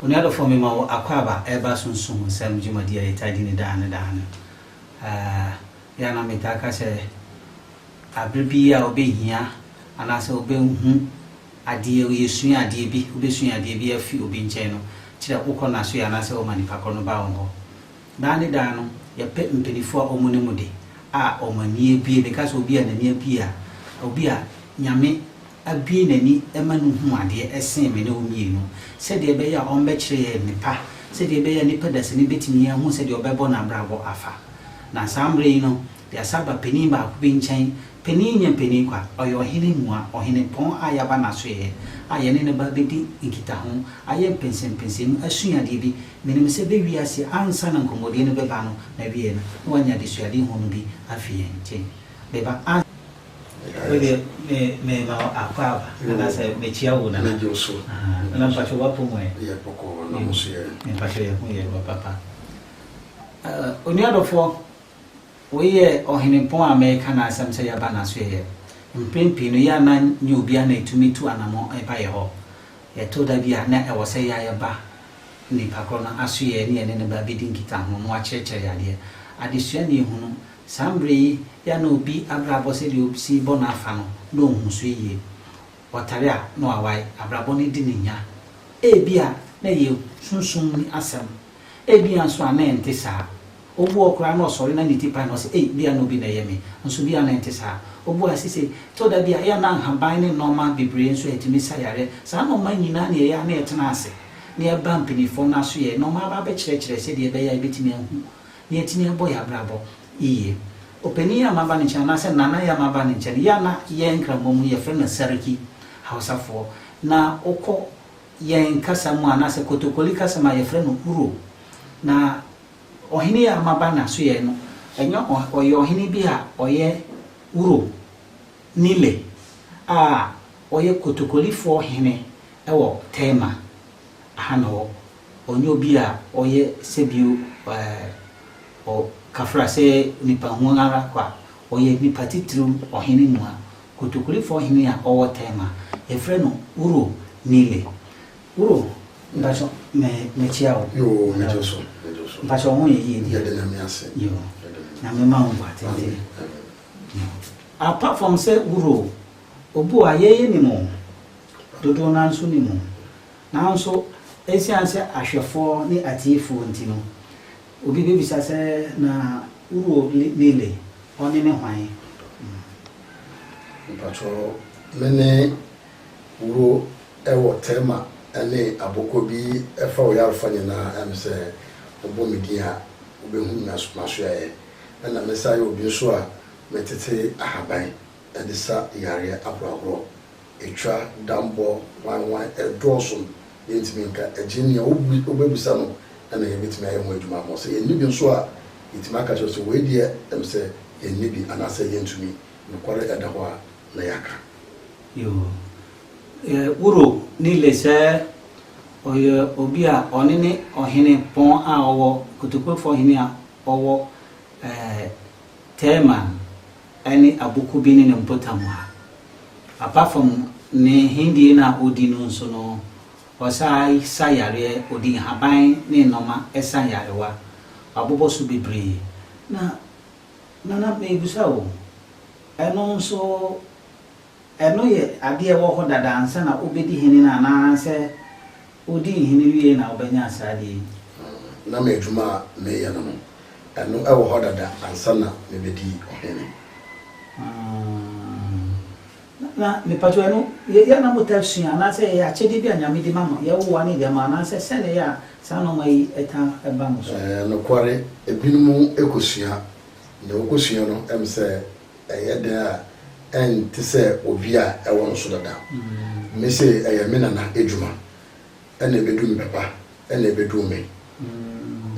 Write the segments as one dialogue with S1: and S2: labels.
S1: Onua dɔfoɔ mema wo akwaaba ɛreba sunsum nsɛm dwumadi a yɛtaa di no daa ne daa no. Yɛ a na metaa ka sɛ aberɛ bi a wobɛhia anaasɛ wobɛhu adeɛ, yɛsua adeɛ bi, wobɛsua adeɛ bi afi obi nkyɛn no, kyerɛ wokɔ n'asoeɛ anaasɛ woma nipa korɔ no ba wo hɔ. Daa ne daa no, yɛpɛ mpaninfoɔ a wɔn anim de, a wɔn ani abue. Meka sɛ obi a n'ani abue a, obi a Nyame abue n'ani ma no hu adeɛ ɛsen me ne wo mmienu. Sɛdeɛ ɛbɛyɛ a wɔbɛkyerɛ yɛn nnepa, sɛdeɛ ɛbɛyɛ a nnipa dasani bɛtumi ahu sɛdeɛ ɔbɛbɔ n'abrabɔ afa. Na saa mmerɛ yi no, yɛasa aba panin baako bi nkyɛn, panin nyɛ panin kwa, ɔyɛ ɔhene mua, ɔhenepɔn a yɛaba n'asoɛeɛ, a yɛne no ba abɛdi nkitaho, ayɛ mpɛnsɛmpɛnsɛmu, asua adeɛ bi, Menim sɛ bɛ wiase ansa na nkɔmmɔdie no bɛba no na wiee no na wanya adesuade hunu bi afi yɛn nkyen bɛba a. Wei deɛ me me ma wo akwaaba anaasɛ me kyia wo nana nana mpakyɛw w'apɔmu ɛ yɛ bɔkɔɔ na mo nso yɛ ɛ mpakyɛw yɛ ho yɛ wɔ papa eh onua dɔfoɔ wei yɛ ɔhenempɔn a mɛka n'asɛm sɛ yɛaba n'aso yɛ mpren pii no yɛ a na nyɛ obiara na ɛtumi tu anamɔ ɛba yɛ hɔ yɛto da bi a na ɛwɔ sɛ yɛ a yɛba nipa korɔ no asoyɛɛ ne yɛne no bɛ abɛdi nkitaho na wakyerɛkyerɛ yɛ adeɛ. Adesua na ɛhunu saa mberɛ yi yɛ a na obi abrabɔ sɛdeɛ obsi bɔ no afa no na ɔnhu so yie. Ɔtare a na wawae, abrabɔ no adi no nya. Ebia na ɛyɛ sunsum mu asɛm, ebia nso a na ɛnte saa. Obu hɔ koraa na ɔsɔre na ne ti pae na ɔse, Ei, bia na obi na ɛyɛ me, nso bia na ɛnte saa. Obuaa se, Se, tɔ da bi a, ɛyɛ a na nhaban ne nnoɔma bebree nso a ɛtumi sa yareɛ, saa nnoɔma nyinaa na ɛyɛ a na ɛtena ase na ɛba mpaninfoɔ no aso yɛ nnoɔma aba abɛkyerɛkyerɛ sɛdeɛ ɛbɛyɛ a yɛbɛtumi ahu na yɛatumi abɔ yɛn abrabɔ yiye. Opanin yi a maba ne nkyɛn, anaasɛ Nana yi a maba ne nkyɛn, yɛ a na yɛn nkramoa mu yɛfrɛ no Sarki, Hausafoɔ, na wokɔ yɛn kasa mu a, anaasɛ Kotokoli kasa mu a, yɛfrɛ no Uro, na Ɔhene yi a maba n'asoɛe no, ɛnyɛ ɔyɛ ɔhene bi a ɔyɛ Wuro, Nile, a ɔyɛ kotokolifoɔ hene wɔ Tema ha na ɔwɔ. Ɔnyɛ obi a ɔyɛ sɛbio ɔ kafra sɛ nipa hunu ara kwa. Ɔyɛ nipa titiriw ɔhene mua, kotokolifoɔ hene a ɔwɔ Tema. Yɛfrɛ no Wuro, Nile. Bro mpatsɔ me mekyia wo. Yoo megye so megye so.
S2: Mpatsɔ wo ho yɛ
S1: yie deɛ. Yɛda
S2: Nyame ase. Yoo
S1: Nyame ma wo nkwa tenten. Apart from sɛ bro obu a yɛyɛ nim o dodoɔ no ara nso nim o nanso ɛsiane sɛ ahwɛfoɔ ne atiefoɔ nti no obi bɛbisa sɛ na bro Lile ɔne ne hwan? Mpatsɔ
S2: mene Wuro wɔ tɛma ne abɔkɔ bi fa ɔyarefo nyinaa ɛm sɛ wɔbɔ me din a wobɛhu m'asoɛeɛ ɛna me san yɛ obi nso a metete ahaban de sa yareɛ ahorɔahorɔ. Ɛtwa dambɔ hwanhwan ɛdɔɔso yɛntumi nka ɛgye nea wobɛbisa no na yɛbɛtumi ayɛ ho adwuma ama wo sɛ yɛnni bi nso a yɛtumi aka kyerɛ wo sɛ wei deɛ ɛm sɛ yɛnni bi anaasɛ yɛntumi nokware ɛda hɔ a na yɛaka. Yoo
S1: eh woro Nile sɛ ɔyɛ obi a ɔne ne ɔhene pɔn a ɔwɔ Kotokurofoɔ hene a ɔwɔ eh Teman ne Abukubini no mpotam ha. Apart from ne hendie no a ɔdi no nso no ɔsan sa yareɛ, ɔdi nhaban ne nnoɔma sa nyarewa. Wabobɔ so bebree. Na Nana mebisa o, ɛno nso Ɛno yɛ adeɛ a ɛwɔ hɔ dada ansa na ɔbɛdi hene no anaa sɛ ɔdi hene wie na ɔbɛnya saa adeɛ yi? Na me
S2: adwuma a meyɛ no no, ɛno wɔ hɔ dada ansa na mebɛdi ɔhene. Aah, na mepakyɛw ɛno yɛ yɛ a na motaa sua anaa sɛ ɛyɛ akyɛdeɛ bi a Nyame de ma mo, yɛwowa ne deɛ ma anaa sɛ sɛn na ɛyɛ a saa nnoɔma yi taa ba mo so? Ɛɛ, nokware, ebinom kɔsua, deɛ wɔkɔsua no ɛm sɛ. Ɛyɛ dɛn a ɛnte sɛ obi a ɛwɔ no so dada? Me se ɛyɛ me nana adwuma na ɛbɛdu me papa na ɛbɛduu me.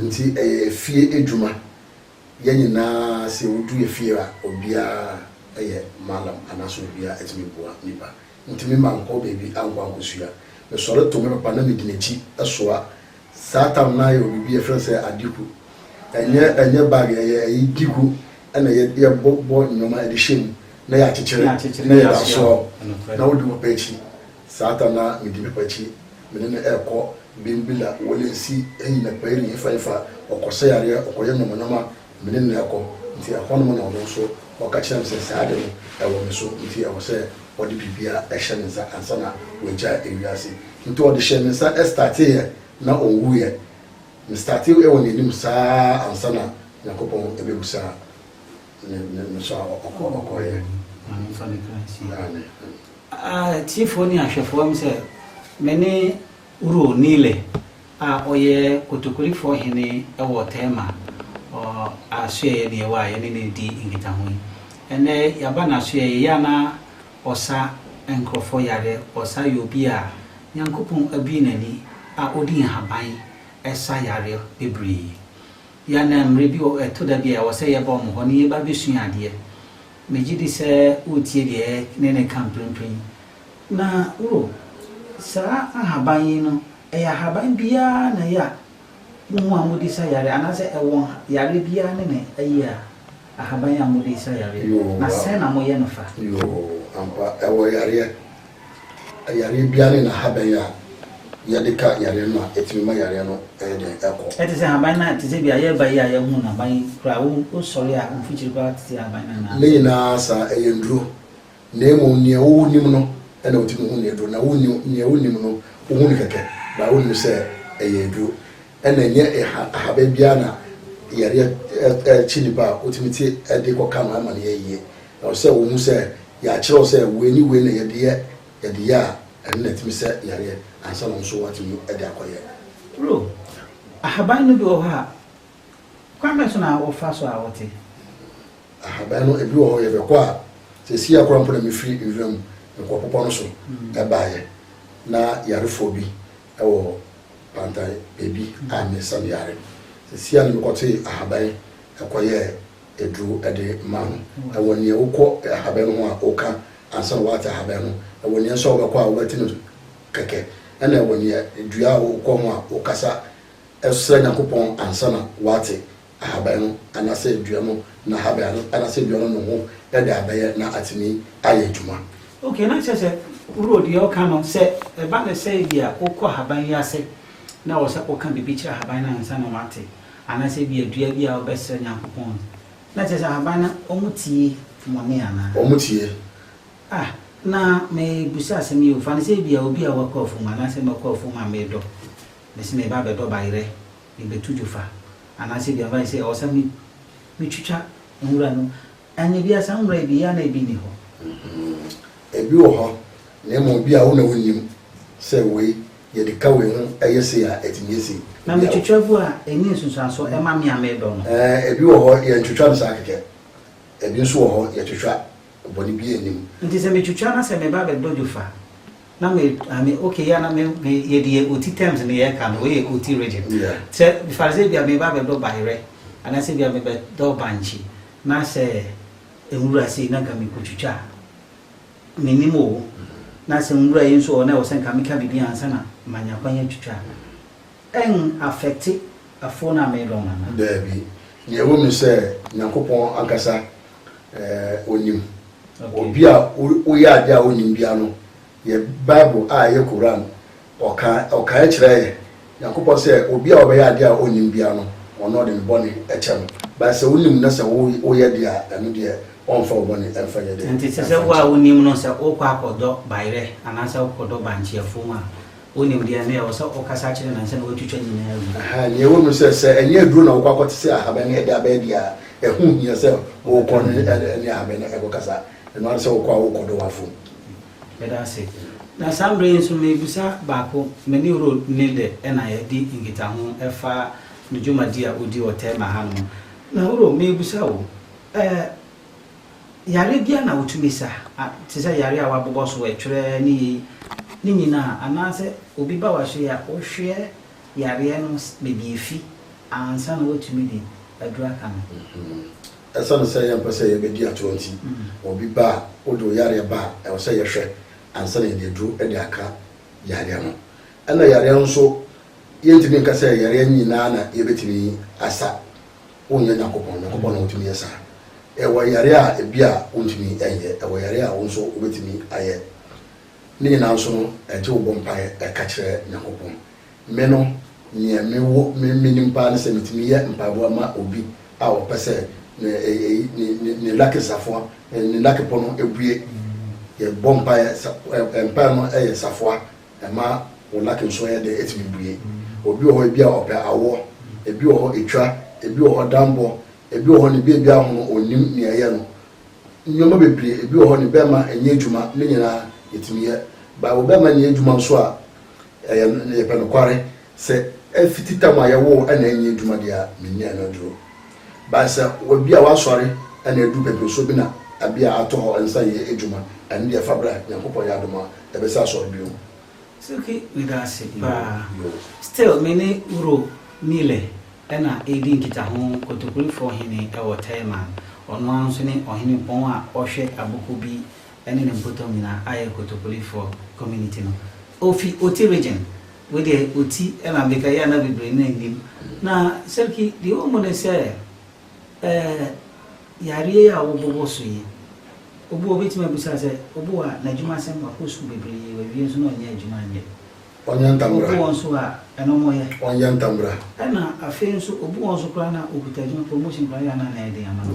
S2: Nti ɛyɛ fie adwuma. Yɛn nyinaa se wodu yɛ fie a obiara yɛ mallam anaasɛ obiara tumi boa nnipa. Ntumi mankɔ baabi ankɔ ankɔsua. Mesɔre to me papa na medi n'akyi soa Saa tam no ara yɛ wɔ biribi a yɛfrɛ no sɛ adiku. Ɛnyɛ ɛnyɛ bag, ɛyɛ ɛyi diku na yɛ yɛbɔ bɔ nneɛma de hyɛ mu na yɛakyekyere na yɛde asoa hɔ na wodi papa akyi. Saa tam no ara medi papa akyi. Me ne no ɛrekɔ Bimbilla,
S3: Wolensi, Heyi na Payiri, hefa hefa. Ɔkɔsa yareɛ, ɔkɔyɛ nnoɔma nnoɔma. Me ne no rekɔ, nti ɛhɔnom na ɔno nso ɔka kyerɛɛ me sɛ, Saa ade no, ɛwɔ me so, nti ɛwɔ sɛ ɔde biribiara hyɛ me nsa ansa na wagyae ewiase. Nti ɔde hyɛɛ me nsa starteeɛ na ɔwuiɛ. Me startee wɔ n'anim saa ansa na Nyankopɔn bɛbu saa ne no so a ɔkɔeɛ. Maame nfa ne kra nsie. Amen.
S1: Atiefoɔ ne ahwɛfoɔ, ɛwom sɛ me ne. Uro Nile a ɔyɛ Kotokorifɔɔ hene wɔ Tema ɔ asoɛeɛ deɛ wɔ a yɛne no redi nkitaho yi. Ɛnnɛ yɛaba n'asoɛeɛ yei a na ɔsa nkurɔfoɔ yareɛ, ɔsa yɛ obi a Nyankopɔn abue n'ani a ɔdi nhaban sa yareɛ bebree. Yɛ a na mmerɛ bi wɔ ɛto da bi a ɛwɔ sɛ yɛba wɔn hɔ na yɛba bɛsua adeɛ. Megye di sɛ woretie deɛ yɛ ne no reka mprempren. Na oh, saa ahaban yi no, ɛyɛ ahaban biara na ɛyɛ a mohu a mode sa yareɛ, anaasɛ ɛwɔ yareɛ biara ne ne ayi a, ahaban yi a mode sa yareɛ, na sɛn na moyɛ no fa? Yoo, ampa,
S3: ɛwɔ yareɛ. Yareɛ biara ne n'ahaban yi a yɛde ka yareɛ no ma ɛtumi ma yareɛ no yɛ dɛn? Ɛkɔ. Ɛte sɛ ahaban no a, te
S1: sɛ bi a yɛreba yi a yɛahu no, aban yi koraa, wosɔre a, mfikyiri koraa tete ahaban no anaa? Ne nyinaa saa,
S3: ɛyɛ nnuro. Na mmom nea wonim no na wotumi hu nea aduro, na wonni nea wonnim no wohu no kɛkɛ baa wonim sɛ ɛyɛ aduro. Ɛna ɛnyɛ ahaban biara na yareɛ kyi nipa a wotumi te de kɔ ka no ama no yɛ yie. Na wɔsɛ sɛ wohu sɛ yɛakyerɛw sɛ wei ne wei na yɛde yɛ, yɛde yɛ a ɛno na ɛtumi sɛ yareɛ ansa na wɔn nso wɔatumi de akɔ yɛ. Duro,
S1: ahaban no bi wɔ hɔ a kwan bɛn so na wɔfa so a wɔte? Ahaban
S3: no ebi wɔ hɔ yɛbɛkɔ a, seesei ara koraa mpo na mefiri nwuram nkoapopɔ no so baeɛ. Ná yarefoɔ bi wɔ Pantai baabi a mesiane yare. Seesei ara na mekɔtee ahaban kɔyɛɛ aduro de maa no. Ɛwɔ nea wokɔ ahaban no ho a woka ansa na woate ahaban no, ɛwɔ nea nso a wobɛkɔ a wobɛte no kɛkɛ, ɛnna ɛwɔ nea dua a wokɔ ho a wokasa srɛ Nyankopɔn ansa na woate. ahaban no anasɛ dua no n'ahaban no anasɛ dua no noho de abɛyɛ na atumi ayɛ adwuma. Okay, na kyerɛ sɛ
S1: woro deɛ ɔka no sɛ ɛba no sɛ ebia wokɔ ahaban yi ase na ɛwɔ sɛ woka biribi kyerɛ ahaban no ansa na wɔate anasɛ ebia dua bi a wobɛsrɛ Nyankopɔn no, na kyerɛ sɛ ahaban no wɔtie mɔne anaa? Wɔtie.
S3: Ah,
S1: na merebisa asɛm yi o, fa no sɛ ebia obi a wakɔ afuom anaa sɛ makɔ afuom a medɔ, mese mereba abɛdɔ bayerɛ. Mibetu dwofa anaasɛ aduan ba yi sɛ ɔsɛ me metwitwa nwura no ɛnyɛ bia saa nwura yi bi yɛ a na ebi nni hɔ.
S3: Ebi wɔ hɔ na mmom bia wo na wonnim sɛ wei yɛde ka wei ho ɛyɛ sei a ɛtumi yɛ sei. Na metwitwa gu
S1: a ɛnyɛ nsunsuansoɔ ɛma me a medɔ no. Ɛɛ ebi wɔ hɔ
S3: yɛntwitwa no saa kɛkɛ, ebi nso wɔ hɔ yɛtwitwa, bɔne biara nnim. Nti sɛ metwitwa na
S1: sɛ meba abɛdɔ dwofa. na me I mean okay yɛ na me me yɛ deɛ oti terms ne yɛ ka no wei yɛ oti region sɛ fari sɛ bia me ba bɛ dɔ bayerɛ anaasɛ bia me bɛ dɔ bankye na sɛ nwura sei na nka me ko twitwa me nim o na sɛ nwura yi nso ɔ na ɛwɔ sɛ nka me ka bibi ansa na ma nya kwan atwitwa. Ɛn affecte afo no a me dɔ Nana? Daabi.
S3: Nea ɛwɔ mu ne sɛ Nyankopɔn ankasa eh, Onim. Okay. Obi a wo, woyɛ adeɛ a Onnim biara no, yɛ Bible a ɛyɛ Qur'aan, ɔka, ɔkaeɛ kyerɛɛ yɛ, Nyankopɔn sɛ, obi a ɔbɛyɛ adeɛ a Onnim biara no, Ɔno Ɔde ne bɔne kyɛ no. But sɛ wonim na sɛ wo, woyɛ deɛ a, ɛno deɛ Ɔmfa wo bɔne mfa nyɛ dɛn? Nti te sɛ wo a wonim
S1: no, sɛ wokɔ akɔdɔ bayerɛ, anaasɛ wokɔdɔ bankyeɛfoɔ mu a, Wonim deɛ ɛno yɛ, ɛwɔ sɛ wokasa kyerɛ no ansa na woatwitwa ne nyinaa agu. Ahaa, nea ɛwɔ mu ne sɛ, sɛ
S3: ɛnyɛ aduro na wokɔ akɔte sɛ ahaban no ɛde aba adi a, ɛho hia sɛ wokɔ ne ahaban no kɔkasa. Ɛno ara ne sɛ wokɔ a wokɔ dɔ w'afomu. Meda ase.
S1: Na saa mmerɛ yi nso merebisa baako, me ne Rod Nilde na yɛadi nkitaho ɛfa ne dwumadi a ɔdi wɔ Tema hanom. Na Rod, merebisa wo, ɛɛ. Yare biara na wotumi sa, te sɛ yare a wɔabobɔ so ɛtwerɛ ne yei, ne nyinaa anaasɛ obi ba w'ahyɛyi a wohwɛ yareɛ no baabi a ɛfi ansa na woatumi de aduro aka no.
S3: Ɛsiane sɛ yɛmpɛ sɛ yɛbɛdi atorɔ nti, obi ba a wode wo yareɛ ba a, ɛwɔ sɛ yɛhwɛ ansa na yɛde aduro de aka yareɛ no. Ɛna yareɛ nso, yɛntumi nka sɛ yareɛ nyinaa na yɛbɛtumi asa. wonyɛ Nyankopɔn, Nyankopɔn na otumi yɛ saa. Ɛwɔ yare a ebia wuntumi nyɛ, ɛwɔ yare a wo nso wubetumi ayɛ. Ne nyinaa nso no, ɛgye wo bɔ mpae, ɛka kyerɛ Nyankopɔn. Me no, nea mewɔ, me, minim paa ne sɛ metumi yɛ mpaebɔ ma obi a ɔpɛ sɛ ne, eyi, ne, ne, ne lucky safoa, ne, ne lucky pono bue. Yɛbɔ mpae, sa, ɛ, mpae no yɛ safoa. Ɛma wo luck nso yɛ dɛn? Ɛtumi bue. Obi wɔ hɔ ebi a ɔpɛ awɔ, ebi wɔ hɔ etwa, ebi wɔ hɔ danbɔ, ebi wɔ hɔ ne baby ahono ɔnnim nea ɛyɛ no. Nneɛma bebree, ebi wɔ hɔ ne bɛɛma nyɛ adwuma, ne nyinaa yɛtumi yɛ. Bible bɛɛma nyɛ adwuma nso a, ɛyɛ, yɛpɛ nokware. Sɛ afiti tam a yɛwoo na ɛnyɛ adwuma deɛ a, menni ano aduro. But sɛ obi a wasɔre na aduru pɛpɛsuo bi na abi a ato hɔ nsa yɛ adwuma, ɛno deɛ fa bra, Nyankopɔn yɛ adom a, ɛbɛsa asɔre bio. Suki
S1: meda ase paa. Still me ne Wuro Mile na ɛredi nkitaho Kotokurefoɔ hene wɔ Taiman. Ɔno ara nso ne ɔhene bɔn a ɔhwɛ aboko bi ne ne mpɔtam nyinaa ayɛ Kotopoli foɔ community no. Ɔfi Oti region. Wei deɛ Oti na meka yi a na bebree no nnim. Na Seriki deɛ ɛwɔ mu ne sɛ ɛɛ yareɛ yi a wɔbɔ wɔ so yi, obi wɔ hɔ a ɔbɛtumi abisa sɛ obi wɔ hɔ a n'adwuma asɛm, wakɔ sukuu bebree, wawie nso na ɔnyɛ adwuma nyɛ. Ɔnyɛ ntambra.
S3: Obi wɔ hɔ nso a ɛno
S1: ɔmo yɛ. Ɔnyɛ ntambra.
S3: Ɛna afei
S1: nso obi wɔ hɔ nso koraa na ɔkuta adwuma, promotion koraa yɛ a na anɛ yɛ den ama no.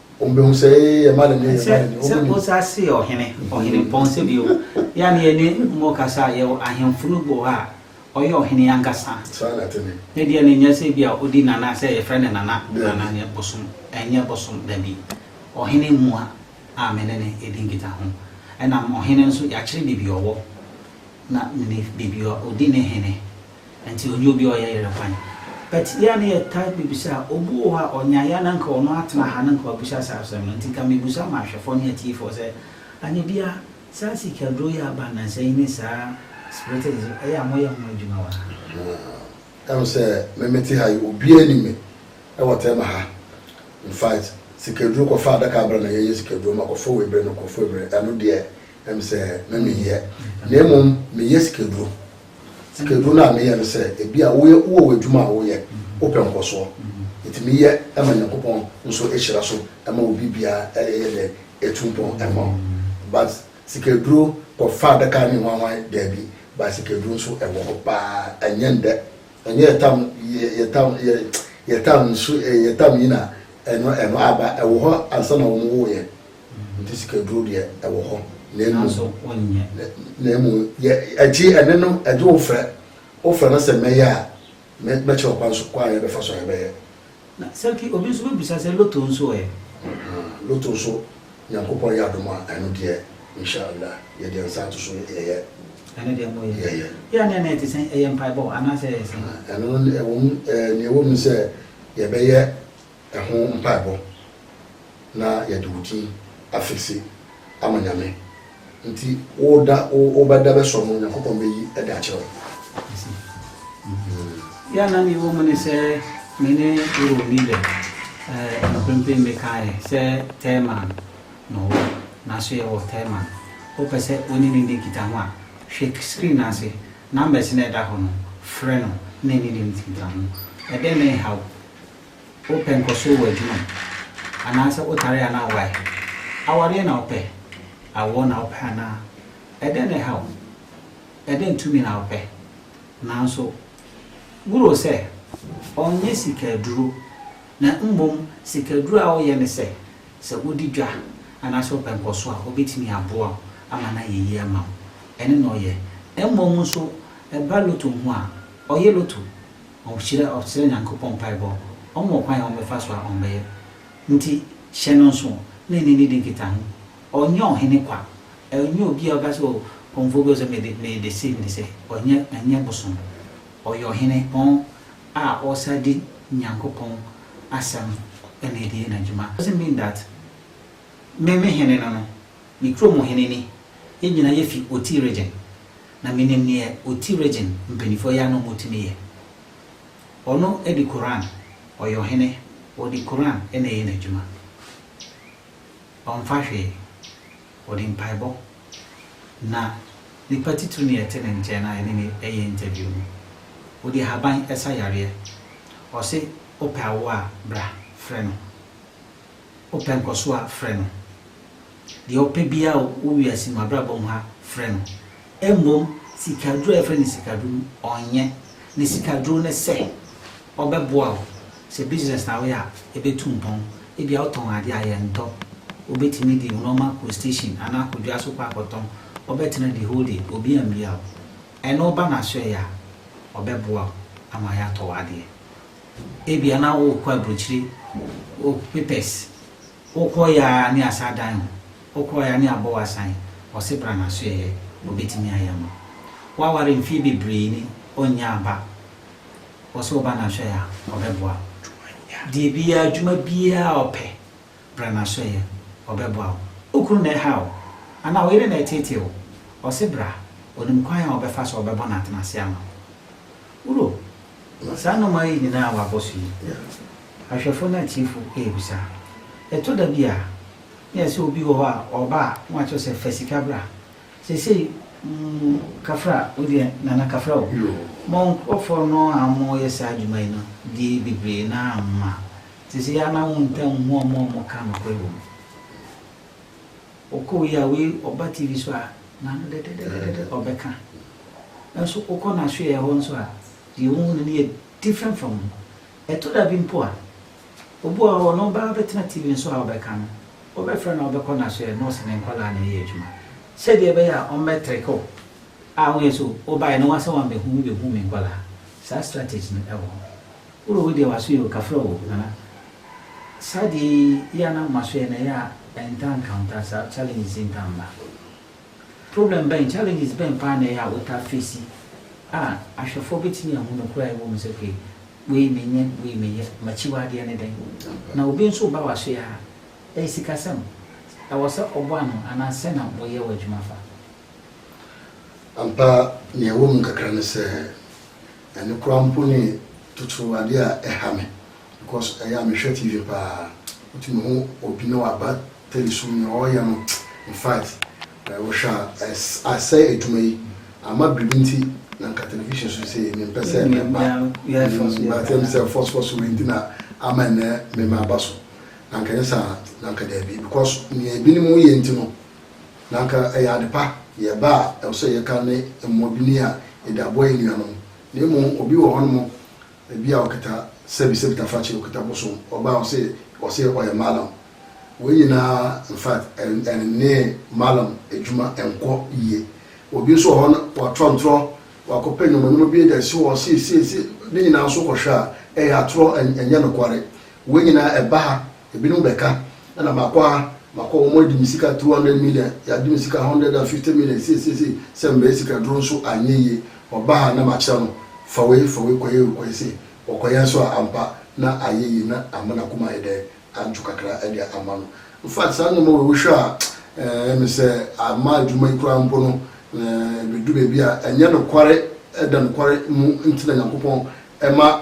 S3: Wɔbɛhu sɛ ee ɛma ne ne ɛma ne ne. Sɛ Musa
S1: se ɔhene, ɔhene mpɔn sɛ bio. Yɛ a na yɛne mo kasa a, yɛwɔ ahemfo no bi wɔ hɔ a, ɔyɛ ɔhene ankasa. Saa na ɛte ne.
S3: Ne deɛ no nyɛ sɛ
S1: bi a ɔdi nana sɛ yɛfrɛ no nana, nana ne bosom, ɛnyɛ bosom, dabi. Ɔhene mua a me ne no di nkitaho. Ɛnam ɔhene nso, yɛakyerɛ baabi a ɔwɔ, na mene baabi a ɔdi ne hene. Enti ɔnyɛ obi a ɔyɛ yerɛ kwan. But yɛ a na yɛ taa bebisa a, obi wɔ hɔ a ɔnya yɛ a na nka ɔno atena ha na nka wabisa saa asɛm no. Nti nka mebusa ma ahwɛfoɔ ne atiefoɔ sɛ, Anibia, saa sika duro yi a aba nnansa yi ne saa spirited nso, ɛyɛ a moyɛ ho adwuma wɔ ha? Ɛhu sɛ me
S3: mete ha yi, obiara nim me wɔ tɛma ha. In fact, sika duro kɔfa adaka bra na yɛ yɛ sika duro ma kɔfa wei brɛ no kɔfa wei brɛ no, ɛno deɛ ɛhu sɛ me me yɛ. Na mmom me yɛ sika duro. Sikaduro no a meyɛ no sɛ ebia woyɛ wowɔ w'adwuma a woyɛ, wopɛ nkɔsoɔ, yɛtumi yɛ ma Nyankopɔn nso hyira so ma wo biribiara yɛ dɛ ɛtu mpɔn ma wo but sikaduro kɔ fa adaka ne hwanhwan daabi but sikaduro nso ɛwɔ hɔ paa ɛnyɛ ndɛ ɛnyɛ yɛ tam yɛ yɛ tam yɛ yɛ tam nso yɛ tam yi na ɛno ɛno aba ɛwɔ hɔ ansa na wɔn wo yɛ Enti sikaduro deɛ ɛwɔ hɔ na mmom. Nanso wonyɛ.
S1: Na mmom
S3: yɛ agye ɛne no agye wo frɛ. Wofrɛ no sɛ mɛyɛ a, mɛkyerɛ wo kwan so kwan a yɛbɛfa so a yɛbɛyɛ. Na Saki,
S1: obi nso bɛbisa sɛ lotto nso ɛ? Ahaa, lotto
S3: nso, Nyankopɔn yɛ adom a, ɛno deɛ, Insha Allah, yɛde yɛn nsa ato so yɛyɛ. Ɛno deɛ moyɛ. Yɛyɛ.
S1: Yɛ aneɛ na ɛte sɛn? Ɛyɛ mpaebɔ anaasɛ ɛyɛ sɛn? Ahaa, ɛno no ɛwom,
S3: ɛɛ, nea ɛwom ne sɛ yɛbɛyɛ Ɛho mpaebɔ na yɛde wo din afixe ama Nyame nti wo da wo wo bɛ da bɛsɔ no Nyankopɔn bɛyi de akyerɛ wo. Mesi.
S1: Yɛ a na mewɔ mu ne sɛ me ne wo nni dɛ eh, mprempren mekaeɛ sɛ Thurman na ɔwɔ nanso yɛwɔ Thurman. Wopɛ sɛ wo ne no nni nkitaho a, hwɛ screen no ase, numbers no a ɛda hɔ no, frɛ no na ne ne nti nkitaho. Ɛdɛn na ɛhaw Wopɛ nkɔso wɔ adwuma mu anaasɛ wotare anaa woae? Awareɛ na wopɛ? Awoɔ na wopɛ anaa? Ɛdɛn na ɛha wo? Ɛdɛn tumi na wopɛ? Nanso wuro sɛ ɔnyɛ sika aduro na mmom sika aduro a woyɛ ne sɛ, sɛ wodi dwa anaasɛ wopɛ nkɔso a ɔbɛtumi aboa wo ama no ayɛ yie ama wo. Ɛno na ɔyɛ. Mmom nso ɛba loto ho a, ɔyɛ loto. Ɔkyerɛ ɔsrɛ Nyankopɔn mpaebɔ, ɔma wo kwan a ɔmbɛfa so a ɔmbɛyɛ. Ntsi hyɛ no nsow na enye no di nkitaho. Ɔnnyɛ ɔhen kwa, ɔnnyɛ obi a ɔbɛka dɛ oh Pomfo bi ɔsɛ mede mede sei mede sei, ɔnnyɛ ɔnnyɛ bosom. Ɔyɛ ɔhen pɔn a ɔsan di Nyankopɔn asɛm na edi yɛ n'adwuma. Doesn't mean that me me hen no no, me kurom hen ni, yɛn nyina yɛfi Oti region. Na menim neɛ ɔti region mpaninfoɔ yɛ a na ɔmo tumi yɛ. Ɔno de Quran ɔyɛ ɔhene ɔde Quran na ɛyɛ n'adwuma. Ɔmfa hwee. Ɔde mpaebɔ. Na nipa titiri na yɛte ne nkyɛn na yɛne no yɛ interview no. Ɔde ahaban sa yareɛ. Ɔse wopɛ awoɔ a bra frɛ no. Wopɛ nkɔsoɔ a frɛ no. deɛ ɔpɛ biara wɔ wiase mu abrabɔ mu ha frɛ no, mmom sikaduro a yɛfrɛ no sikaduro no, ɔnyɛ. Ne sikaduro ne sɛ, ɔbɛboa wo. Sɛ business na woyɛ a, ɛbɛtu mpɔn. Ebia wotɔn adeɛ a, yɛntɔ. Wobɛtumi de wo nneɛma akɔ station anaa akɔ dwa so kɔ akɔtɔn. Wobɛtena the whole day, obi ammia wo. Ɛno woba no asoɛeɛ a, ɔbɛboa wo ama yɛatɔ w'adeɛ. Ebia na worekɔ aburokyire, wo papers Wo kɔ ya ne asa dan ho, wo kɔ ya ne abɔ wasan, ɔse bra naso ɛyɛ obetumi ayɛ ama wo. Waware mfie bebree ni ɔnyaa ba, ɔse wo ba naso ɛyɛ a ɔbɛboa wo. Deɛ biaa adwuma biaa a ɔpɛ, bra naso ɛyɛ ɔbɛboa wo. Wo kunu na ɛha wo anaa wo yere na ɛtetee wo, ɔse bra ɔnim kwan a ɔbɛfa so a ɔbɛbɔ no atenase ama wo. Wuro Saa nnomaa yi nyinaa a wɔabɔ so yi, ahwɛfo ne atiefo rebisa. Ɛtɔ da bi a, na ɛyɛ sɛ obi wɔ hɔ a, ɔba a, na wɔakyerɛ sɛ, Fa sika bra. Seesei, kafra, wo deɛ, Nana kafra o. Mo nkurɔfoɔ no a wɔyɛ saa adwuma yi no deɛ bebree no ara mma. Te sɛ yɛn ara na wontaa nhu wɔn a wɔka nokorɛ wom. Ɔkɔɔ yi a wei ɔba TV so a na ano dɛdɛdɛdɛdɛdɛ ɔbɛka. Nanso wokɔ n'asoɛeɛ hɔ nso a, deɛ wohu no no yɛ different from no. Ɛtɔ da bi mpo a, obi wɔ hɔ ɔno baa bɛtena TV no so a ɔbɛka no, wobɛfrɛ no a wobɛkɔ n'asoɛeɛ na ɔse ne nkwadaa na ɛyɛ adwuma. Sɛdeɛ ɛbɛyɛ a ɔmmɛtreke wo a woyɛ sɛ o, wobaeɛ no woasɛ woammɛhu me bɛhu me nkwadaa. Saa strategy no wɔ hɔ. Woro wo deɛ w'aso yɛ o kafra o nana saa deɛ yi yɛ a na m'aso yɛ na ɛyɛ a ɛntaa encounter saa challenges yi ntaa mma problem bɛn challenges bɛn paa na ɛyɛ a wotaa face a ahwɛfoɔ bɛtumi ahu nokorɛ a ɛwɔ mu sɛ okay wei menyɛ wei meyɛ m'akyiwadeɛ ne dɛn na obi nso ba w'aso yɛ a ɛyɛ sikasɛm ɛwɔ sɛ ɔbɔ ano anaa sɛn na woyɛ w'adwuma fa. Ampa
S3: nea ɛwɔ mu kakra ne sɛ Ɛno koraa mpo ne totoro adeɛ a ɛha me because ɛyɛ a mehwɛ TV paa wotumi hu obi na waba telesom nea ɔreyɛ no infact wohwɛ a asɛe adwuma yi ama biribi nti na nka television so sei mempɛ sɛ ɛba but ɛm sɛ fɔsfɔso wei nti na ama ɛnnɛ mema aba so na nka ɛnyɛ saa a na nka daabi because nea ebinom yɛ nti no Na anka ɛyɛ ade pa, yɛ ɛbɛ a ɛwɔ sɛ yɛka ne mmɔdini a yɛde aboa yɛn nuanom. Na mmom obi wɔ hɔnom ebi a ɔkita sɛbi, sɛbi tafakyɛ, ɔkita bosom, ɔba a ɔse, ɔse ɔyɛ Mallam. Wei nyinaa infact ɛne Mallam adwuma nkɔ yie. Obi nso wɔ hɔ no watorɔ ntorɔ, wakɔpɛ nnoɔma nnoɔma bi de asi hɔ sei sei sei, ne nyinaa nso wokɔhwɛ a ɛyɛ atorɔ, ɛnyɛ nokware. Wei nyinaa ɛba ha. Ebinom bɛka, Ɛna makɔ ha, makɔ hɔ, wɔadi me sika two hundred million, yɛagye me sika hundred and fifty million, sei, sei, sei, sɛ mmerɛ sikaduro nso anyɛ yie, ɔba ha na makyerɛ no, fa wei, fa wei kɔyɛ wei, kɔyɛ sei. Ɔkɔyɛ nso a, ampa na ayɛ yie na ama n'akoma ayɛ dɛn? Adwo kakra de ama no. In fact, saa nneɛma wei wohwɛ a, ɛyɛ me sɛ ama adwuma yi koraa mpo no, ɛbɛdu baabi a, ɛnyɛ nokware, ɛda nokware mu nti na Nyankopɔn ma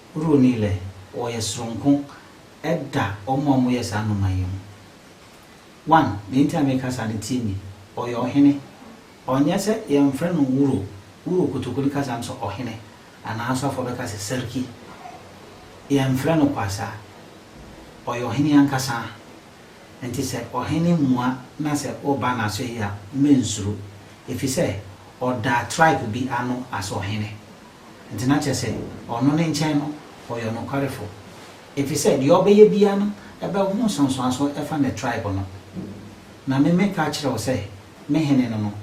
S1: Broni lɛ, wɔyɛ soronko da wɔn a wɔyɛ saa nnoma yi ho. One, nea nti a meka saa no, tie me, ɔyɛ ɔhene. Ɔnyɛ sɛ yɛmfrɛ no Wuro, Wuro Kotokoli kasa no sɛ ɔhene, anaa asɔfoɔ bɛka sɛ Sarki. Yɛmfrɛ no Kwasa. Ɔyɛ ɔhene ankasa. Nti sɛ ɔhene mua na sɛ woba n'aso yi a, mensuro. Ɛfiri sɛ, ɔda tribe bi ano as ɔhene. Enti na kyerɛ sɛ ɔno ne nkyɛn no ɔyɛ ɔnokwarefo, efisɛ deɛ ɔbɛyɛ biara no ɛbɛho nsonsoanso ɛfa ne tribe no. Na me meka akyerɛ wo sɛ me hene no no,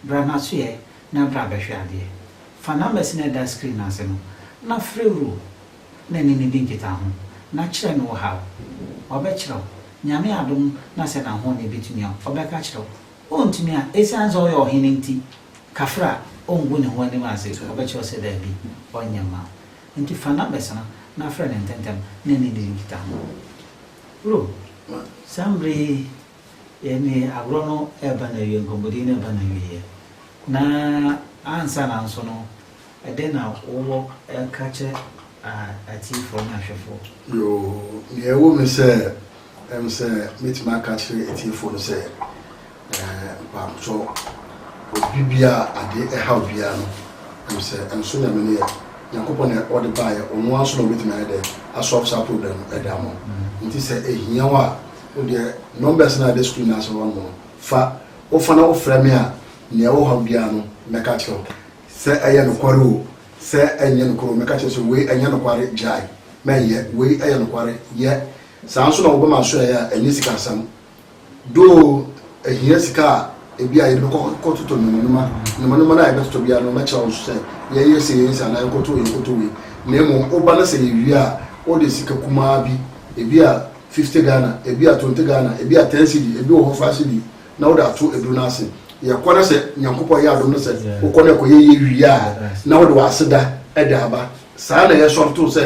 S1: bra n'asoɛ na bra bɛhwɛ adeɛ. Fa numbers no a ɛda screen no ase no na frɛ Rue na ne no di nkitaho na kyerɛ no wo haw. Ɔbɛkyerɛ wo, Nyame adom na sɛ n'ahoɔden bɛtumi a ɔbɛka akyerɛ wo. Ontumi a, esiane sɛ ɔyɛ ɔhene nti, kafra a, ongu ne ho anim ase, ɔbɛkyerɛ wo sɛ dabi, ɔrenyɛ mma wo. Enti fa no abɛsra, na frɛ no ntɛmntɛm, na ɛne ne nkitaho. Bro, saa mmere yi yɛ ne agorɔ no reba n'awieɛ, nkɔmmɔdi no reba n'awieɛ, na ansa na nso no, Ɛdɛn na wowɔ ka kyerɛ
S3: atiefoɔ ne ahwɛfoɔ? Yoo, nea ɛwɔ mu ne sɛ, ɛm sɛ mɛtumi aka akyerɛ atiefoɔ no sɛ, mpaabkyɔ, obi biara a adeɛ ɛhaw biara no, ɛm sɛ ɛnso Nyame no yɛ Nyankopɔn na ɔde baeɛ, ɔno ara nso na ɔbɛtumi ayɛ dɛ asɔlve saa problem no ɛde ama wo. Nti sɛ ɛhia wo a, wo deɛ numbers no a ɛda screen no ase hɔ nom no, fa, wofa na wofrɛ me a, nea ɛwɔ haw biara no mɛka akyerɛ wo. Sɛ ɛyɛ nokware oo, sɛ ɛnyɛ nokware oo, mɛka akyerɛ wo sɛ, Wei ɛnyɛ nokware, gyae, mɛnyɛ. Wei yɛ nokware, yɛ. Saa nso na wɔbɛma asoɛ yɛ a ɛnyɛ sikasɛm. Though ɛhia sika a ebia yɛde bɛkɔ akɔtotɔ nnomanoma, nnomanoma no a yɛbɛtotɔ biara no, mɛkyerɛ wo nso sɛ, yɛnyɛ sei, yɛnyɛ sei, anaa yɛnkɔtɔ wei, yɛnkɔtɔ wei. Na mmom woba na sɛ yɛwie a, wode sika kumaa bi, ebia fifty Ghana, ebia twenty Ghana, ebia ten cedi, ebi wɔ hɔ five cedi, na wode ato aduru no ase yɛkɔ na sɛ nyankopɔn yɛ adom no sɛ wokɔ na ɛkɔyɛ yɛ wie a na wode w'aseda ɛde aba saa na yɛsɔre to sɛ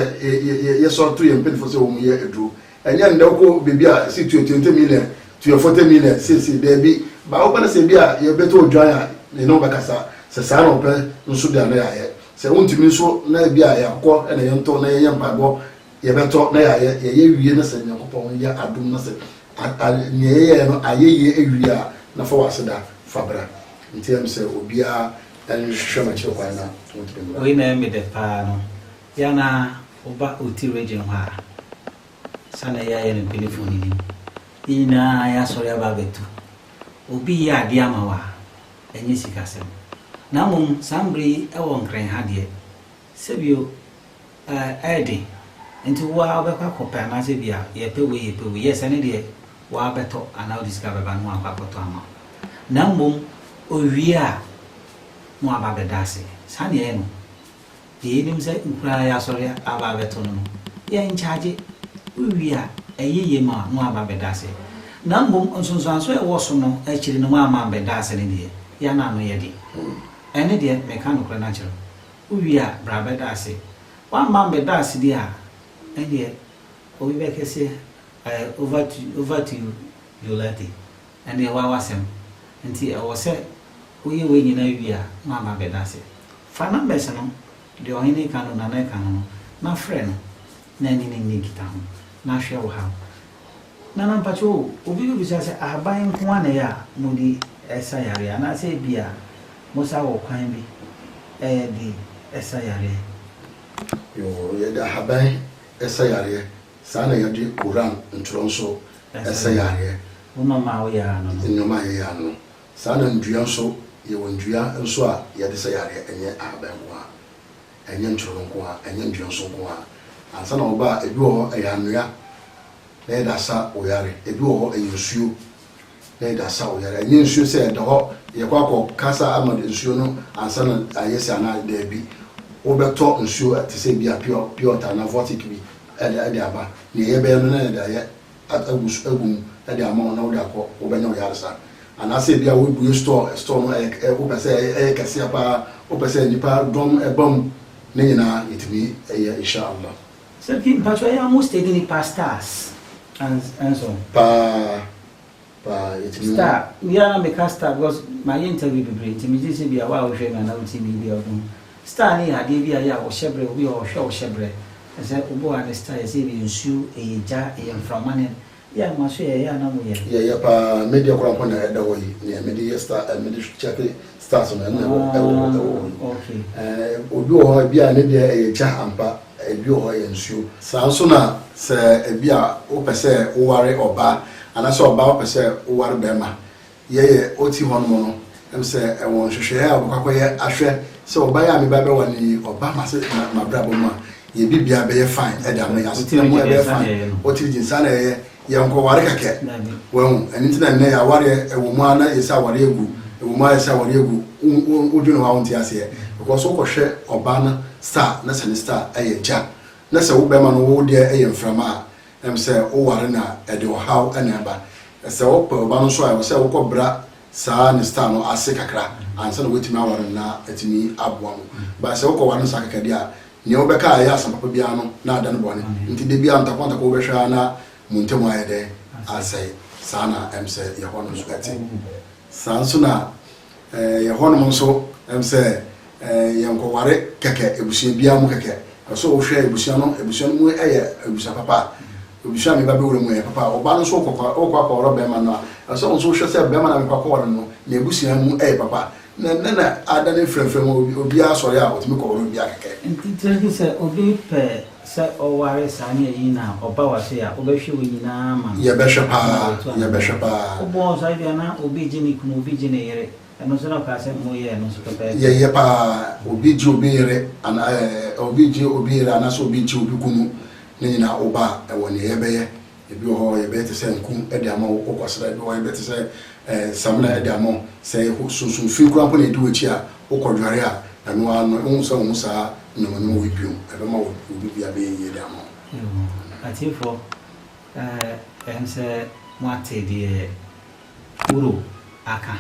S3: yɛsɔre to yɛn mpanyinfoɔ sɛ wɔn yɛ aduro ɛnyɛ ndɛ wokɔ biribi a si tuo twenty million tuo forty million seesei daabi baa wopɛ no sɛ bi a yɛbɛtɔ odwan a ne ne wobɛkasa sɛ saa na wɔpɛ nso de a na yɛayɛ sɛ wontumi nso na bi a yɛakɔ na yɛntɔ na yɛyɛ mpaebɔ Yɛbɛtɔ na yɛayɛ, yɛyɛ wie na sɛ Nyankopɔn yɛ adom na sɛ nea yɛyɛɛ no ayɛ yie awie a, na fa w'aseda fa bra. Nti ɛm sɛ obiara nhwɛ m'akyiri kwan na ontumi mmra. Wei na ɛyɛ me dɛ paa
S1: no, yɛ a na wo ba ɔti region hɔ a, sa na yɛayɛ no mpanyinfoɔ no nim. Yɛn nyinaa yɛ asɔre aba abɛtu. Obi yɛ adeɛ ama wo a, ɛnyɛ sikasɛm. Na mmom saa mberɛ yi ɛwɔ Nkran ha deɛ. Sɛ bio, ɛɛ, ɛyɛ den. Nti wo ara wobɛkɔ akɔpɛ anaasɛ ebia yɛpɛ wei yɛpɛ wei, yes, ɛno deɛ wo ara bɛtɔ anaa wode sika bɛba na wɔakɔ akɔtɔ ama wo. Na mmom owie a, na waba abɛda ase. Saa na yɛyɛ no. Deɛ yɛnim sɛ nkuraa a yɛasɔre aba abɛto no no, yɛnkyagye. Wowie a, ɛyɛ yie ma wo na woaba abɛda ase. Na mmom nsonsoansoɔ a ɛwɔ so no akyiri no, woamma ammɛda ase no deɛ, yɛn ano yɛ den. Ɛno deɛ, meka nokorɛ no akyerɛ wo. Wowie a, bra bɛda ase. Woamma ammɛda ase deɛ a, ɛnneɛ obi bɛka sɛ, I over to, over to you Jolati, ɛnneɛ woa w'asɛm. Nti ɛwɔ sɛ woyɛ wei nyinaa wie a na woama abɛda ase. Fa numbers no, deɛ ɔhene reka no, nana reka no no, na frɛ no na ɛne no nni nkitaho, na hwɛ wo haw. Nana mpakyɛw o, obi bebisa sɛ ahaban nko ara na ɛyɛ a mode sa yareɛ anaasɛ ebia mosan wɔ kwan bi de sa yareɛ?
S3: Yoo, yɛde ahaban sa yareɛ, saa na yɛde Koran ntorɔ nso sa yareɛ. Wo nnoɔma a woyɛ
S1: ano no? Nnoɔma a yɛyɛ ano no.
S3: Saa na nnua nso, yɛwɔ nnua nso a yɛde sa yareɛ, ɛnyɛ ahaban nko ara, ɛnyɛ ntorɔ no nko ara, ɛnyɛ nnua nso nko ara. Ansa na wɔba a, ebi wɔ hɔ ɛyɛ anwea na yɛde asa wo yare. Ebi wɔ hɔ, ɛyɛ nsuo na yɛde asa wo yare. Ɛnyɛ nsuo sɛ ɛda hɔ, yɛkɔ akɔ kasa ama nsuo no ansa na ayɛ sei anaa, daabi. Wobɛtɔ nsuo te sɛ bi a pure pure water anaa vortic bi de de aba. Nea yɛbɛyɛ no na yɛde ayɛ agu so agu mu de ama wo na wode akɔ, wobɛnya wo yaresa. Anaasɛ ebi a wobue store, store no ɛyɛ wopɛ sɛ ɛyɛ kɛseɛ paa, wopɛ sɛ nnipa dɔm ba mu. Ne nyinaa yɛtumi yɛ, Insha Allah. Sɛ pii mpakyɛw
S1: ɛyɛ ɔmo stage ne paa stars nso. Paa
S3: paa yɛtumi hu. Star me ara
S1: me ka star because mayɛ interview bebree nti me gye sɛ bia wo a wo hwɛ me anaa wo tie me yi bia wo bɛhu star no yɛ adeɛ bi a yɛ a wo hyɛ brɛ obi wɔ hɔ ɔhwɛ wo hyɛ brɛ ɛsɛ obi wɔ hɔ a ne star yɛ sɛ ɛyɛ nsuo ɛyɛ gya ɛyɛ mframa ne Yeah ma so yɛyɛ a na mo yɛ. Yɛyɛ paa me
S3: deɛ kora mpo na ɛda hɔ yi neɛ mede yɛ star eh mede kyɛke stars no ɛna ɛwɔ ɛwɔ hɔ ɛwɔ hɔ
S1: yi eh obi
S3: wɔ hɔ ebi a ne deɛ ɛyɛ gya ampa ebi wɔ hɔ ɛyɛ nsuo. Saa nso na sɛ ebi a wopɛ sɛ woware ɔbaa anaa sɛ ɔbaa wopɛ sɛ woware bɛɛma Yɛyɛ ɔti hɔ nom no na misɛ ɛwɔ nhwehwɛɛ a ɔbɛkɔ akɔyɛ ahwɛ sɛ ɔba yi a me ba bɛwa no yi ɔba mase mabrabɔ mu a yɛ bibia bɛyɛ fine ɛde ama yɛ asetena mu ɛbɛyɛ fine ɔtiri gyin saa na ɛyɛ yɛ nkɔ ware kɛkɛ wahu ɛno nti na nnɛ yɛ awareɛ ɛwɔ mu a na yɛ sɛ awareɛ agu ɛwɔ mu a yɛ sɛ awareɛ agu wodwene hɔ a wonte aseɛ because wokɔ hwɛ ɔba no star na sɛ ne star ɛyɛ gya na sɛ wo bɛma no wo deɛ ɛyɛ mframa a Ɛm sɛ woware no a ɛde ɔhaw na ɛba. Sɛ wopɛ wo ba no nso a ɛwɔ sɛ wokɔ bra saa ne style no ase kakra ansa na woatumi aware no na atumi aboa mo. But sɛ wokɔ ware no saa kɛkɛ deɛ a nea wobɛka a ɛyɛ asɛm papa biara no na ada no bɔne. Nti da biara ntako ntako wobɛhwɛ ara na mo ntam ayɛ dɛn? Asɛe. Saa na ɛm sɛ Yehowa no nso te. Saa nso na Yɛ hɔ nom nso ɛm sɛ yɛ nkɔ ware kɛkɛ abusua biaa mu kɛkɛ ɛwɔ sɛ wo hwɛ abusua no abusua no mu ɛyɛ abusua papa abusua me ba bɛ wura mu ɛyɛ papa wo ba no nso kɔ kɔ kɔ akɔ ware bɛma no a ɛwɔ sɛ wo nso wo hwɛ sɛ bɛma no a me kɔ akɔ ware no ne abusua mu ɛyɛ papa na nɛ na ada ne frɛ frɛ mu obiaa sɔre a ɔtumi kɔ ware obiaa kɛkɛ. Nti tiri sɛ obi
S2: pɛ Sɛ ɔware saa ne ayi na ɔba w'ase a, wobɛhwe wɔn nyinaa ama no? Yɛbɛhwɛ paa, Ɛno na wɔatu
S3: anaa? yɛbɛhwɛ paa. Wobɔɔ ɔsaa yi bi a
S2: na obi gye ne kunu, obi gye ne yere. Ɛno nso na ɔkaa sɛ moyɛ ɛno nso pɛpɛɛpɛ. Yɛyɛ paa.
S3: Obi gye obi yere anaa ɛɛ obi gye obi yere anaasɛ obi gye obi kunu, ne nyinaa woba a, ɛwɔ nea yɛbɛyɛ. Ebi wɔ hɔ yɛbɛyɛ te sɛ nku de ama wo, wokɔsra. Ebi wɔ hɔ yɛbɛyɛ te sɛ samina de ama wo. Sɛ sunsum fi koraa mpo na edi w'akyi a, wokɔdware a, ɛno ara no, wohu sɛ wo ho saa nyamanwoma wei bio. Ɛbɛma wo biribi abɛyɛ yiye de ama wo. Atiefo,
S2: ɛwom sɛ moate deɛ Uro aka,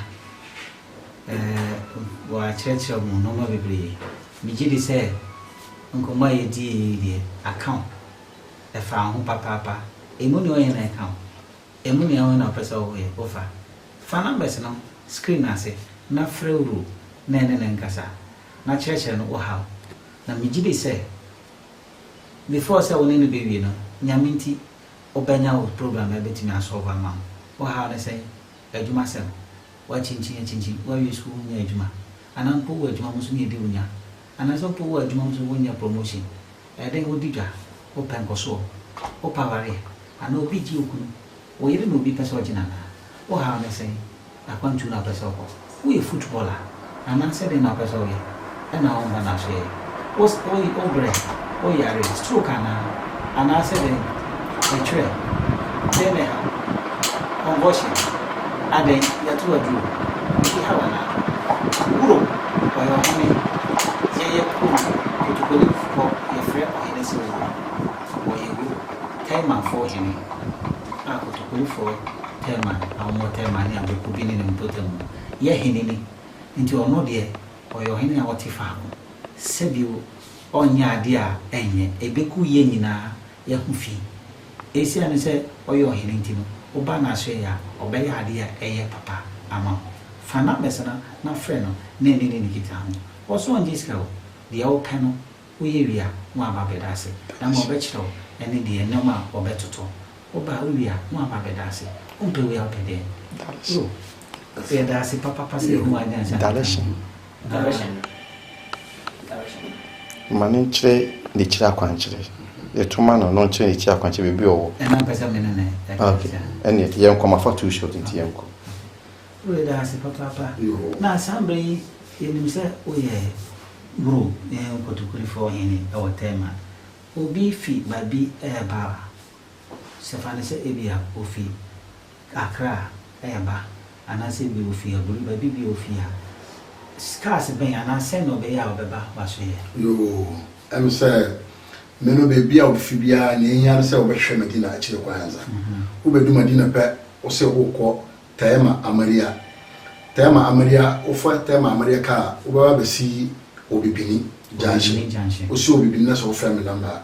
S2: wakyerɛkyerɛ mo nnoɔma bebree. Megye di sɛ nkɔmmɔ a yɛdii yi deɛ, aka wo. ɛfa wo ho papaapa. Ɛmu nea ɔyɛ na ɛka wo. Ɛmu nea woyɛ na wopɛ sɛ woyɛ, wofa. Fa numbers no screen no ase na frɛ wo Roo na ɛne no nkasa, na kyerɛkyerɛ no wo haw. Na megye di sɛ before sɛ wo ne no bɛwie no, Nyame nti, wobɛnya wo problem a ɛbɛtumi asɔlve ama wo. Wo haw ne sɛn? Adwumasɛm. Woakyinkyin akyinkyin, woawie sukuu wonnya adwuma. Anaa mpo wowɔ adwuma mu nso ne ɛdi wo nya. Anaasɛ mpo wowɔ adwuma mu nso wonyɛ promotion. Ɛyɛ dɛn wodi dwa? Wopɛ nkɔsoɔ? Wopɛ awareɛ? Anaa obi gye okunu, oyere na obi pɛ sɛ ɔgye no anaa? Wo haw ne sɛn? Akwantuo na wopɛ sɛ wokɔ? Woyɛ football a? Anaa sɛ dɛn na wopɛ sɛ woyɛ? Ɛna wo mba no asoɛɛ? Wo wo brɛ? Wo yare? Stroke anaa? Anaa sɛ dɛn? Mekyerɛ, dɛn na ɛhaw wo? Ɔnkɔɔhye no, adɛn nti? Yɛato aduro, ebi haw anaa? Wuro, ɔyɛ ɔhene, yɛyɛ kurom kotokulenfo, yɛfrɛ ɔhene sɛ wuro, ɔyɛ wuro, Temanfoɔ hene, a kotokulefoɔ Teman a wɔwɔ Teman ne Abrekubi ne ne mpɔtam no yɛ hene ni, nti ɔno deɛ ɔyɛ ɔhene a ɔte faako, sɛ bio ɔnyɛ adeɛ a ɛnyɛ, ɛbɛku yɛn nyinaa, yɛ ho fi. Esiane sɛ ɔyɛ ɔhene nti no, wo ba no asoɛe a, ɔbɛyɛ ade a ɛyɛ papa ama wo. Fa numbers no na frɛ no na ɛne ne nkita ho. Wɔ so ɔngye sika o, deɛ wopɛ no woyɛ wie a na waba abɛda ase. Dama ɔbɛkyerɛ wo ɛne deɛ nnoɔma a ɔbɛtoto. Wo ba wowie a na waba abɛda ase. Wompɛ wei a wopɛ deɛn? Oh, yɛda ase papapa sɛ Yehowa anyansa ne nka ho.
S4: Ma no nkyerɛ n'akyiri akwankyerɛ. Yɛto ma no na ɔnkyerɛ n'akyiri akwankyerɛ baabi a ɔwɔ. Ɛna mpɛ sɛ me ne no
S2: ɛka
S4: nti a. Ɛneɛ yɛnkɔ, mafa too short nti yɛnkɔ. Yɛda
S2: ase papaapa. Na saa mmerɛ yi yɛnim sɛ woyɛ Bro ne Nkotokurifoɔ hene wɔ Tema. Obi fi baabi reba a. Sɛ fa no sɛ ebia ofi Accra reba anaasɛ ebia ofi Aburi baabi bi a ofi a, cars bɛn anaa sɛn na ɔbɛyɛ a ɔbɛba
S3: w'asoɛeɛ? Yoo, ɛm sɛ me no baabi a ofi biara nea ehia ne sɛ wobɛhwɛ Medina akyire kwan ansa. Wobɛdu Medina pɛ, wo se worekɔ Tema Amaria. Tema Amaria, wofa Tema Amaria car a, wobɛba abɛsi Obibini Junction. Obibini Junction. Wosi Obibini na sɛ wofrɛ me number a,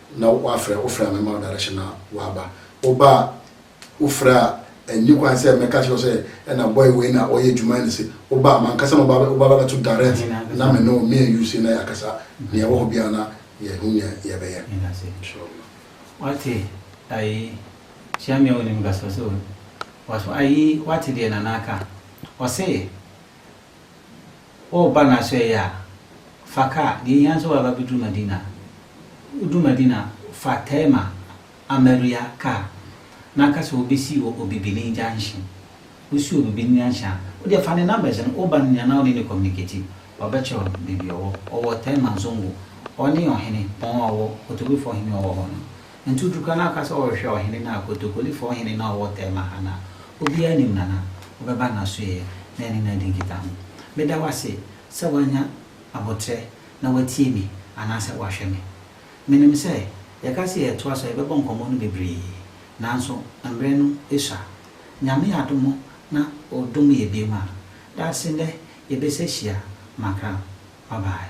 S3: na woafrɛ, wofrɛ a mɛma wo direction na woaba, woba a wofrɛ a ɛnni kwan sɛ mɛka akyerɛ wo sɛ ɛna boy wei na ɔyɛ adwuma ɛne se woba mankasa na woba woba bɛbɛto direct na me ne wo me and you sei na yɛakasa nea ɛwɔ hɔ biara na yɛahu nea yɛbɛyɛ inshallah. Wate
S2: ayi hyia me a wonim ga so so waso ayi wate deɛ Nana aka ɔse Woreba na sɛ ɛyɛ a, fa kaa. Deɛ ɛhia ne sɛ woaba bɛduru Madina. Woduru Madina a, fa Taima Amaria kaa na ka sɛ wobɛsi wɔ Obibini Junction.
S1: Wosi wɔ Obibini Junction a, wodeɛ fa ne numbers no, woba no nyinaa na wone no communicate. Wabɛkyerɛ wo baabi a ɔwɔ. Ɔwɔ Taima Zongo. Ɔne ɔhene pɔn a ɔwɔ, Kotobefoɔ hene a ɔwɔ hɔ no. Ntutuka no aka sɛ ɔrehwɛ ɔhene no a Kotokolifɔɔ hene no a ɔwɔ Tema ha no a obiara nnim no anaa? Ɔbɛba n'asoɛeɛ na ɛne no adi nkitaho. Meda wo ase sɛ woanya aboterɛ na woatie me anaasɛ woahwɛ me. Menim sɛ yɛka sɛ yɛretoa so a yɛbɛbɔ nkɔmmɔ no bebree nanso mmerɛ no sua. Nyame adom na ɔdom yɛ biom a, daakye nnɛ yɛbɛsɛ hyia. Makra. Bye bye.